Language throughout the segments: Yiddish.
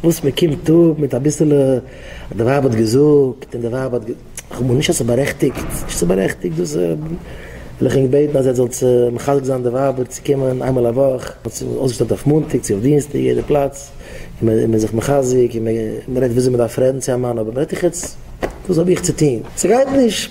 וואס מען קומט אפ מיט אביסעלע אז די ווייב האט געזאגט און די ווייב האט כ'האב מיר נישט אז ס'איז בארעכטיגט נישט ס'איז בארעכטיגט דאס וויל איך ענק בעטן אז עטס זאלטס מחזק זיין די ווייבער צו קומען איינמאל א וואך וואס איז אויסגעשטעלט אויף מאנטאג צו אויף דינסטאג יעדע פלאץ און מען איז זיך מחזק און מען רעדט וויאזוי מען דארף רעדן צו א מאן אבער מען רעדט איך עטס וואס האב איך צו טון ס'גייט נישט.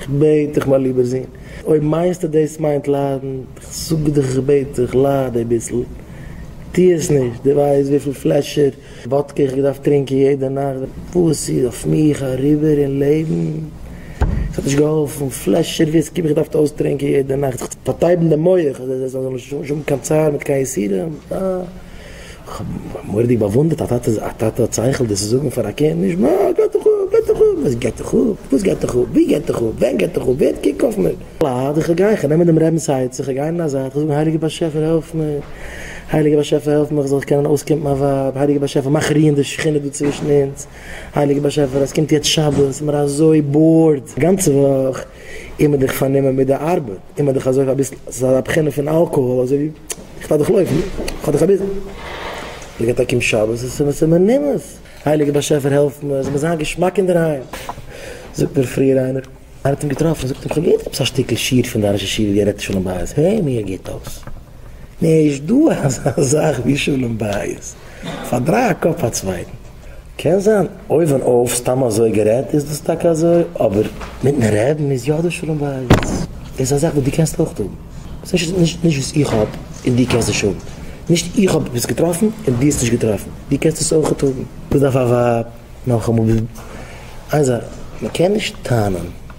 כ'בעט דיך מיין ליבער זון, אויב מיינסטו דאס מיינט ליידן, כ'זאג דיך כ'בעט דיך, לייד אביסל, טוה עס נישט, דו ווייסט וויפיל פלעשער וואדקע איך געדארפט טרינקען יעדע נאכט וואס איז אויף מיך אריבער אין לעבן, ס'האט נישט געהאלפן, פלעשער וויסקי האב איך געדארפט אויסטרינקען יעדע נאכט זיך צו פארטייבן די מח אז עס זאל נישט האבן קיין צער מיט קיין יסורים, אה. כ'האב מורא'דיג באוואונדערט א טאטע, א טאטע האט שכל דאס צו זאגן פאר א קינד, נישט מ א, געט דיך אפ, געט דיך אפ, וואס געט דיך אפ, וואס געט דיך אפ, ווי געט דיך אפ, ווען געט דיך אפ, ווער קוק אויף מיר. ליידער איך גיי, איך נעם דעם רעבינ'ס עצה, איך גיי אין א זייט, איך זאג הייליגער באשעפער העלף מיר, הייליגער באשעפער העלף מיר איך זאל קענען אויסקומט מיין ווייב, הייליגער באשעפער מאך רוען די שכינה דא צווישן אונז, הייליגער באשעפער עס קומט יעצט שבת, ס'איז מיר אזוי באורד, א גאנצע וואך איז מען דיך פארנומען מיט די ארבעט. און מ'האט דיך אזוי אביסל, ס'איז אזא בחינה פון אלקאהאל אזוי ווי, איך לאז דיך לויפן, כ'האב דיך אביסל. הייליגע טאג אום שבת איז עס און מ'נומעס. הייליגע באשעפער העלף מיר, ס'זאל מיר זיין געשמאק אינדערהיים. זאגט מיר פריער איינער, איינער האט אים געטראפן, זאגט אים, כ'האב געהערט עפעס א שטיקל שיעור פון דיין ראש ישיבה ווי ער רעדט שלום בית, העי מיר גוט אויס. נישט דא אזא זאך ווי שלום בית, פארדריי א קאפ א צווייטן. קען זיין אויבן אויף סתם אזוי גערעדט איז דאס טאקע אזוי, אבער מיטן רעדן איז יא דא שלום בית. דאס איז א זאך וואס דו קענסט אויך האבן. ס'נישט נישט נישט וואס איך האב און דו קענסט נישט האבן. נישט איך האב עפעס געטראפן און דו האסט נישט געטראפן. דו קענסט עס אויך האבן. וואס דארף א ווייב נאכאמאל? איין זאך, מ'קען נישט טענה'ן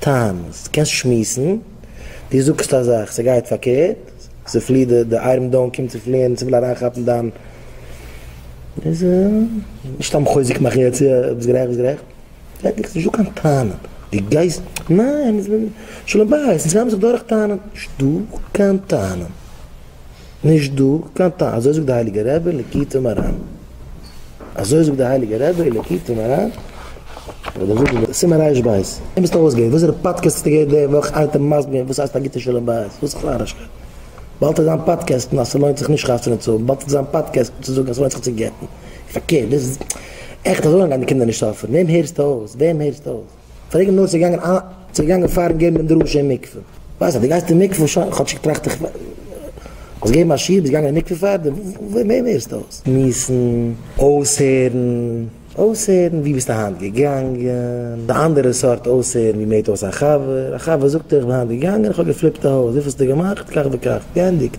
טענה'סט, קענסט שמועסן, דו זאגסט א זאך, ס'גייט פארקערט, ס'פליעט די די איירן דאון קומט צו פליען און ס'וויל אריינכאפן דיין, איז נישט סתם חוזק מאכן יעצט יא ביסט גערעכט ביסט גערעכט, פרעג דיך נישט דא קיין טענה, דו גייסט, ניין, שלום בית, אונז הייבן זיך דורך טענה'ן, נישטא קיין טענה. נישט דא קיין טעם, אזוי זאגט די הייליגע רבי ליקוטי מרן, אזוי זאגט די הייליגע רבי ליקוטי מרן, סימן רש ב, און ביסט אויסגעווען, וואסערע פאדקעסט האסטו געהערט די וואך איינער האט דיר מסביר געווען וואס הייסט א גוטע שלום בית, וואס איז נארישקייט, באלד איז זיין פאדקעסטן אז ס'לוינט זיך נישט חתונה צו האבן, באלד איז זיין פאדקעסטן צו זאגן אז ס'לוינט זיך צו גט'ן, פארקערט, דאס איז עכט אזוי לאנג גייען די קינדער נישט סאפערן, וועם הערסטו אויס, וועם הערסטו אויס. פרעג אים נאר צו ער געגאנגען איין צו ער געגאנגען פארן געבן דעם דרשה אין מקווה. ווייסט אז דו גייסט אין מקווה שוין כאטשיג טראכט איך זאלסט געבן א שיעור ביסט געגאנגען אין מקווה פארדעם ווער ווער ווערסטו אויס מיסן אויסהערן אויסהערן ווי ביסטו היינט געגאנגען די אנדערע סארט אויסהערן ווי מ'הערט אויס א חבר א חבר זאגט איך בין היינט געגאנגען איך האב געפליפט א הויז וויפילסטו געמאכט כך וכך געענדיגט.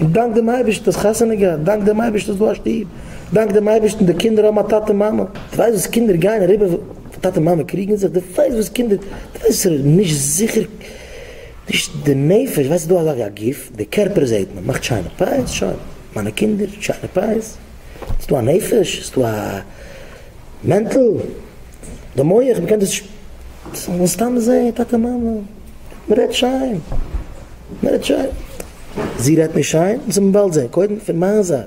און דאנק דעם אייבערשטן האסט חתונה געהאט, דאנק דעם אייבערשטן האסט דא א שטוב, דאנק דעם אייבערשטן די קינדער האבן א טאטע און מאמע, דו ווייסט וואס קינדער גייען אריבער ווען טאטע און מאמע קריגן זיך, דו ווייסט וואס קינדער, דו ווייסט וואס איז נישט זיכער, נישט די נפש, ווייסט דא אזא א גוף, די קערפער זעהט מען, מאכט שיינע פאות, שוין, מיינע קינדער, שיינע פאות, ס'איז דא א נפש, ס'איז דא א מענטל. די מח מען קען דאס מן הסתם זעהן טאטע מאמע מען רעדט שיין מען רעדט שיין זי רעדט נישט שיין וועט מען באלד זעהן קודם פון מיין זייט